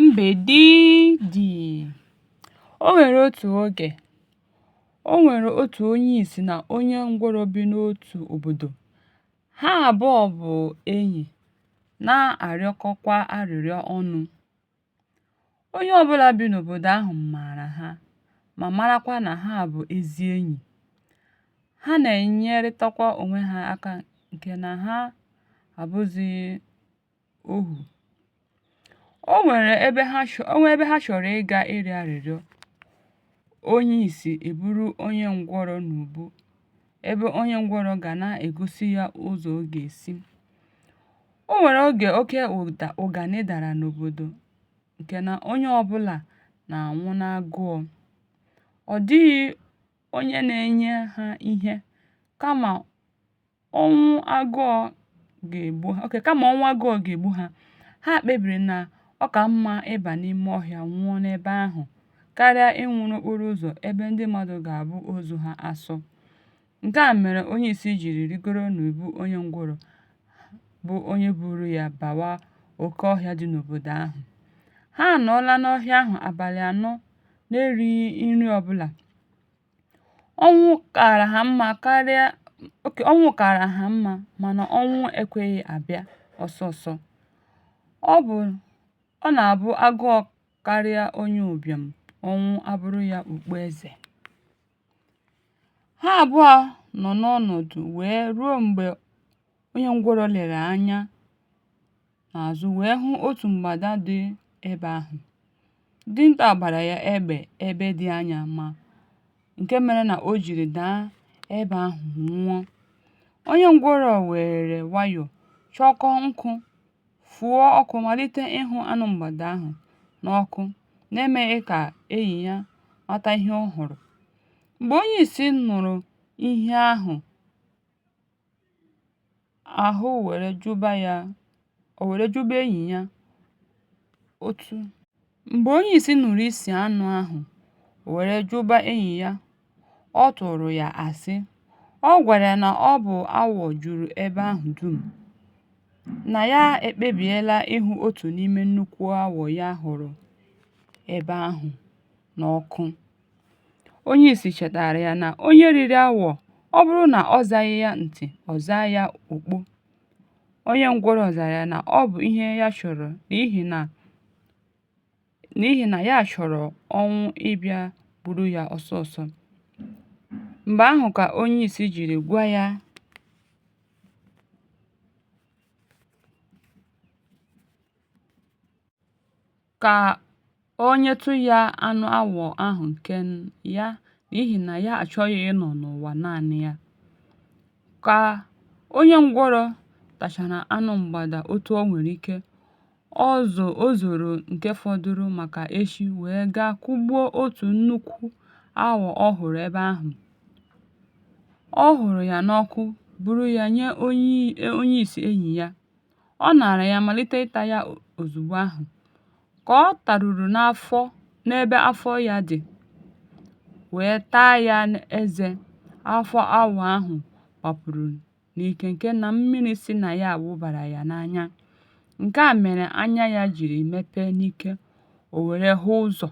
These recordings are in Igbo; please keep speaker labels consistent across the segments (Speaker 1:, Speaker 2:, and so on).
Speaker 1: Mbedidi O nwere otu oge, o nwere otu onye isi na onye ngwụrọ bi n'otu obodo. Ha abụọ bụ enyi, na-arịọkọkwa arịrịọ ọnụ. Onye ọbụla bi n'obodo ahụ maara ha ma marakwa na ha bụ ezi enyi. Ha na-enyerịtakwa onwe ha aka nke na ha abụzịghị ohu o nwere ebe ha chọ o nwee ebe ha chọrọ ịga ịrịọ arịrịọ onye ìsì èburu onye ǹgwụrọ n'ùbu ebe onye ǹgwụrọ gà na-ègosi ya ụzọ̀ ọ gà-èsi o nwèrè ogè oke ụ̀dà ụ̀gànị dàrà n'òbòdò ǹkè nà onye ọbụlà nà-ànwụ n'agụọ ọ̀ dịghị onye na-enye ha ihe kamà ọnwụ agụọ ga-egbu ha okay kama ọnwụ agụọ ga-egbu ha ha kpebiri na ọ ka mma ịba n'ime ọhịa nwụọ n'ebe ahụ karịa ịnwụ n'okporo ụzọ ebe ndị mmadụ ga-abụ ozu ha asọ nke a mere onye isi jiri rigoro n'ubu onye ngwụrọ bụ onye buru ya bawa oke ọhịa dị n'obodo ahụ ha anọọla n'ọhịa ahụ abalị anọ na-erighị nri ọbụla Ọnwụ kaara ha mma karịa, okay, ọnwụ kaara ha mma mana ọnwụ ekweghị abịa ọsọ ọsọ. Ọ bụ, ọ na-abụ agụọ karịa onye ụbịam, ọnwụ abụrụ ya okpu eze. Ha abụọ nọ n'ọnọdụ wee ruo mgbe Onye ngwụrọ lere anya n'azụ wee hụ otu mgbada dị ebe ahụ. Dinta gbara ya egbe ebe dị anya ma nke mere na o jiri daa ebe ahụ nwụọ. Onye ngwụrọ weere nwayọ chọkọọ nkụ, fụọ ọkụ malite ịhụ anụ mgbada ahụ n'ọkụ n'emeghị ka enyi ya mata ihe ọ hụrụ. Mgbe onye isi nụrụ ihe ahụ, ahụ wère jụba ya ò wère jụba enyì ya ọ tụ m̀gbè onye ìsì nụrụ isì anụ ahụ̀ ò wère jụba enyì ya ọ tụ̀rụ̀ ya àsị ọ gwàrà ya nà ọ bụ̀ awọ̀ jùrù ebe ahụ̀ dum̀ nà ya ekpebìela ịhụ otù n'ime nnukwu awọ̀ ya hụ̀rụ̀ ebe ahụ̀ n'ọkụ Onye isi chetaara ya na onye riri awọ, ọ bụrụ na ọ zaghị ya ntị, ọ zaa ya okpo. Onye ngwụrọ zara ya na ọ bụ ihe ya chọrọ n'ihi na ya chọrọ ọnwụ ịbịa gburu ya ọsọ ọsọ. Mgbe ahụ ka onye isi jiri gwa ya ka o nyetụ ya anụ awọ ahụ nke ya n'ihi na ya achọghị ịnọ n'ụwa naanị ya. Ka onye ngwụrọ tachara anụ mgbada otu o nwere ike, o zo o zoro nke fọdụrụ maka echi wee gaa kụgbuo otu nnukwu awọ ọ hụrụ ebe ahụ. Ọ hụrụ ya n'ọkụ buru ya nye onye isi enyi ya. ọ naara ya malite ịta ya ozugbo ahụ ka ọ taruru n'afọ n'ebe afọ ya dị wee taa ya n'eze afọ awọ ahụ gbapụrụ n'ike nke na mmiri si na ya wụbara ya n'anya nke a mere anya ya jiri mepee n'ike o were hụ ụzọ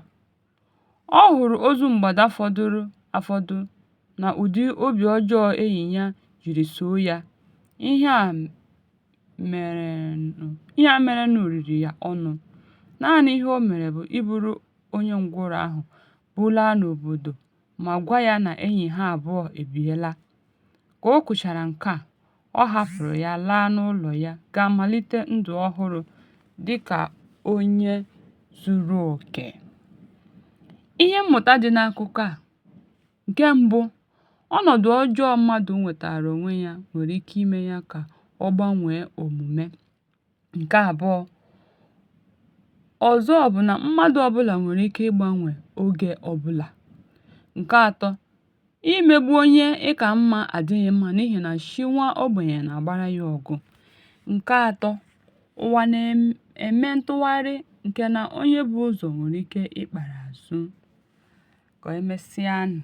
Speaker 1: Ọ hụrụ ozu mgbada fọdụrụ afọdụ na ụdị obi ọjọọ enyi ya jiri soo ya, ihe a merenụ riri ya ọnụ, naanị ihe o mere bụ iburu onye ngwụrọ ahụ bulaa n'obodo ma gwa ya na enyi ha abụọ ebiela. Ka o kwuchara nke a, ọ hapụrụ ya laa n'ụlọ ya gaa malite ndụ ọhụrụ dị ka onye zuru oke. Ihe mmụta dị n'akụkọ a, nke mbụ, ọnọdụ ọjọọ mmadụ nwetaara onwe ya nwere ike ime ya ka ọ gbanwee omume. ǹke àbụọ̄ ọ̀zọ bụ̀ nà mmadụ̄ ọbụlà nwèrè ike ịgbānwè ogē ọbụlà ǹke ātọ̄ imēgbu onye ị kà mmā àdịghị̄ mmā n'ihì nà chi nwa ogbènyè nà-àgbara yā ọ̀gụ̀ ǹke ātọ̄ ụ̀wà nà-ème ntụgharị ǹkè nà onye bu ụzọ̀ nwèrè ike ịkpàrà àzụ kà emesịanụ̀